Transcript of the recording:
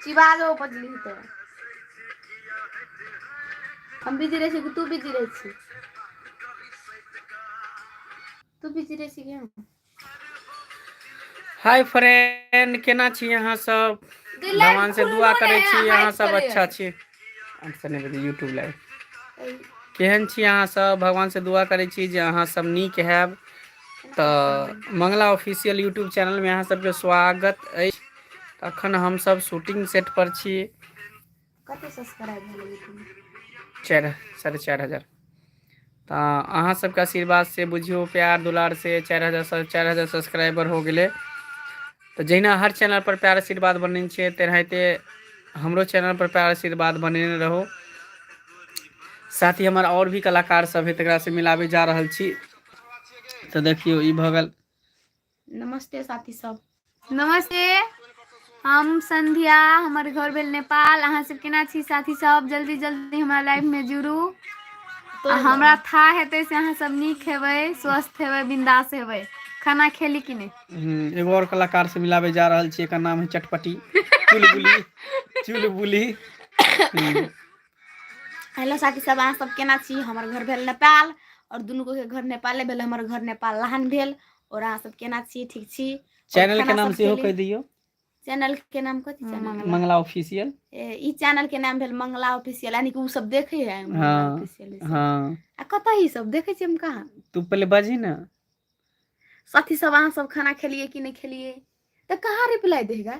शिवालो बजली तऽ हम बिजी रहै छियै कि तू बिजी रहै छी तू बिजी रहै छी कि हम हाय फ्रेंड केना छी अहाँ सब भगवान से दुआ करै छी अहाँ सब अच्छा छी यूट्यूब लाइव केहन छी अहाँ सब भगवान से दुआ करै छी जे अहाँ सब नीक हैब तऽ मंगला ऑफिसियल यूट्यूब चैनल मे अहाँ सबके स्वागत अछि अखन हमसब शूटिंग सेट पर छी कते सस्क्राइब भेल अय यूट्यूब मे चारि साढ़े चारि हजार तऽ अहाँ सबके आशीर्वाद से बुझियौ प्यार दुलार से चारि हजार स चारि हजार सब्सक्राइबर हो गेलै तऽ जहिना हर चैनल पर प्यार आशीर्वाद बनेने छै तेनाहिते हमरो चैनल पर प्यार आशीर्वाद बनेने रहू साथ ही हमर आओर भी कलाकार सब हे तकरा से मिलाबे जा रहल छी तऽ देखियौ ई भऽ गेल नमस्ते साथी सब नमस्ते हम संध्या हमर घर भेल नेपाल अहाँ सब केना छी साथी सब जल्दी जल्दी हमरा लाइफ में जुड़ू आ हमरा था हेतै से अहाँ सब नीक हेबै स्वस्थ हेबै बिंदास हेबै खाना खेली कि नहि हम्म, एगो और कलाकार से मिलाबे जा रहल छी एकर नाम है चटपटी चुलबुली चुलबुली हम्म, हेलो साथी सब अहाँ सब केना छी हमर घर भेल नेपाल और दुनू के घर नेपाले भेल हमर घर नेपाल लहान भेल और अहाँ सब केना छी ठीक छी चैनल के नाम सेहो कह दियो चैनल के नाम कथि छै हम्म, मंगला ऑफिशियल ई चैनल के नाम भेल मंगला ऑफिशियल यानी कि उ सब देखे है हां हां आ कतऽ ही सब देखे छी हम कहां तू पहले बाजी ना साथी सब अहाँ सब खाना खेलिए कि नहीं खेलिए तो कहाँ रिप्लाई देगा